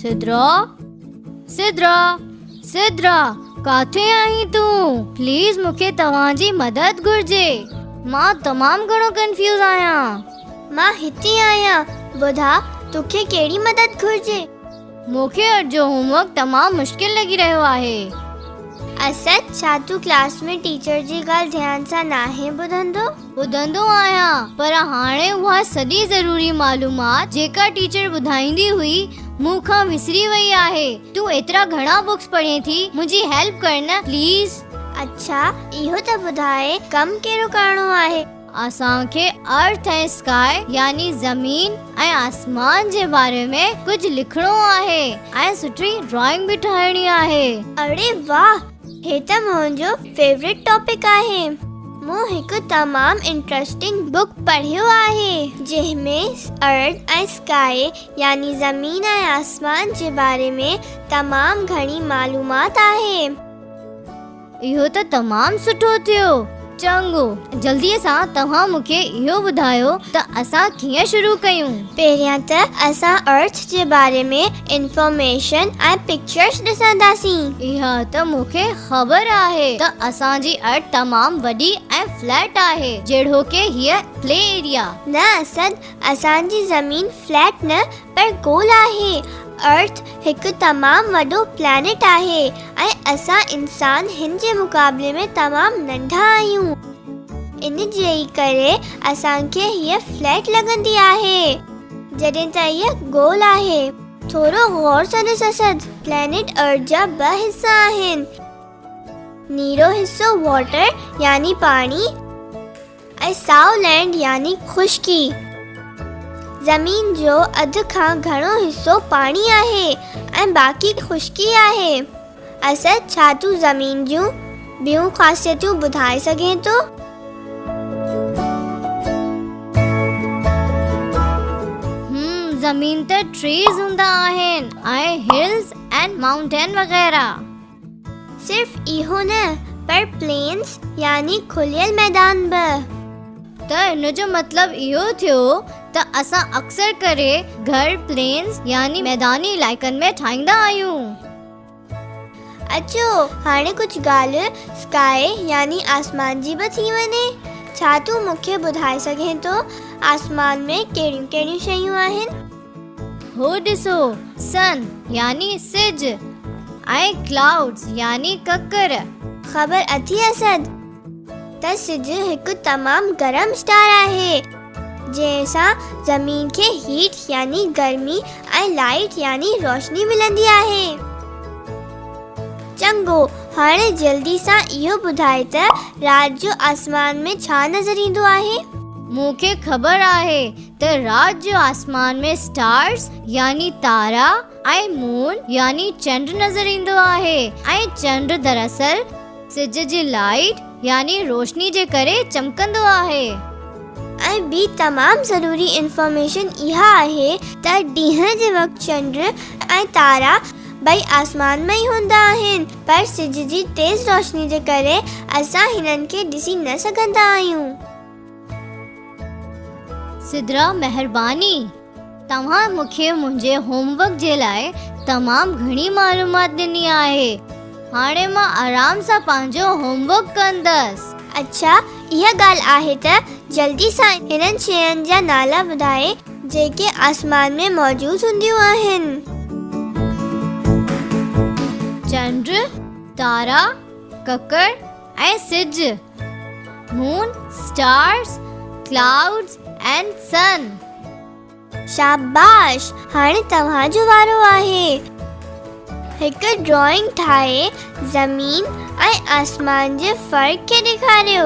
سدرا سدرا سدرا ڪاٿي آهين تون پليز مونکي توهان جي مدد گهرجي مان تمام گهڻو ڪنفيوز آهيان مان هتي آهيان ٻڌا توکي ڪهڙي مدد گهرجي مونکي اڄ جو هوم ورڪ تمام مشڪل لڳي رهيو آهي اسد ڇا تون ڪلاس ۾ ٽيچر جي ڳالهه ڌيان سان ناهي ٻڌندو ٻڌندو آهيان پر هاڻي اها سڄي ضروري معلومات جيڪا ٽيچر ٻڌائيندي هئي مون کان وسري وئي آهي تون ايترا گهڻا بڪس پڙهين ٿي منهنجي هيلپ ڪر نه پليز. اڇا اهو ته ٻڌاء ڪم ڪهڙو ڪرڻو آهي. اسان کي Earth ۽ Sky يعني زمين ۽ آسمان جي باري ۾ ڪجهه لکڻو آهي ۽ سٺي ڊرائنگ به ٺاهڻي آهي. اڙي واھ هي ته منهنجو فيورٽ ٽاپڪ آهي. مون هڪ تمام انٽرسٽنگ بوڪ پڙهيو آهي جنهن ۾ ارٿ ۽ سڪائي يعني زمين ۽ آسمان جي باري ۾ تمام گهڻي معلومات آهي. اهو ته تمام سٺو ٿيو. چڱو، جلديء سان توهان مون کي اهو ٻڌايو ته اسان ڪيئن شروع ڪيون؟ پهريان ته اسان ارٿ جي باري ۾ انفارميشن ۽ پڪچرز ڏسنداسين. اها ته مون کي خبر آهي ته اسان جي ارٿ تمام وڏي ۽ فليٽ آهي، جهڙوڪ هيء پلي ايريا. نه اسد، اسان جي زمين فليٽ نه پر گول آهي. ارٿ هڪ تمام وڏو پلانيٽ آهي ۽ اسان انسان هن جي مقابلي ۾ تمام ننڍا آهيون. ان جي ئي ڪري اسان کي هيء فليٽ لڳندي آهي. جڏهن ته هيء گول آهي. ٿورو غور سان ڏس اسد، پلانيٽ ارٿ جا ٻه حصا آهن. نيرو حصو واٽر يعني پاڻي. ۽ سائو لينڊ يعني خشڪي. زمين جو اڌ کان گهڻو حصو پاڻي آهي ۽ باقي خشڪي آهي. اسد ڇا تون زمين جون ٻيون خاصيتون ٻڌائي سگهين ٿو؟ زمين تي ٽريز هوندا آهن ۽ هلز ۽ مائونٽين وغيره. صرف اهو نه پر پلينز يعني کليل ميدان به. ته ان جو مطلب اهو ٿيو ته اسان اڪثر ڪري گهر پلينز يعني ميداني علائقن ۾ ٺاهيندا آهيون. اچو هاڻي ڪجهه ڳالهه Sky يعني آسمان جي به ٿي وڃي. ڇا تون مون کي ٻڌائي سگهين ٿو آسمان ۾ ڪهڙيون ڪهڙيون شيون آهن؟ هو ڏسو، Sun، يعني سج، ۽ Clouds، يعني ڪڪر. خبر اٿئي اسد، ته سج هڪ تمام گرم اسٽار آهي، جنهن سان زمين کي Heat يعني گرمي ۽ Light يعني روشني ملندي آهي. چڱو، هاڻي جلدي سان اهو ٻڌاء ته رات جو آسمان ۾ ڇا نظر ايندو آهي؟ مون کي خبر آهي، ته رات جو آسمان ۾ اسٽارز يعني تارا ۽ مون يعني چنڊ نظر ايندو آهي ۽ چنڊ دراصل سج جي لائيٽ يعني روشني جي ڪري چمڪندو آهي. ۽ ٻي تمام ضروري انفارميشن اها آهي ته ڏينهن جي وقت چنڊ ۽ تارا ٻئي آسمان ۾ ئي هوندا آهن پر سج جي تيز روشني جي ڪري اسان هنن کي ڏسي نه سگهندا آهيون. سدرا مهرباني توهان مون کي منهنجي هوم ورڪ جي لاء تمام گهڻي معلومات ڏني آهي هاڻي مان آرام سان پنهنجو هوم ورڪ ڪندس. اڇا اها ڳالهه آهي ته جلدي سان انهن شين جا نالا ٻڌائي جيڪي آسمان ۾ موجود هونديون آهن. چنڊ، تارا، ڪڪڙ، ۽ سج، Moon، Stars، Clouds and Sun. شاباش هاڻي توهان جو وارو آهي. هڪ ڊرائنگ ٺاهي زمين ۽ آسمان جي فرق کي ڏيکاريو.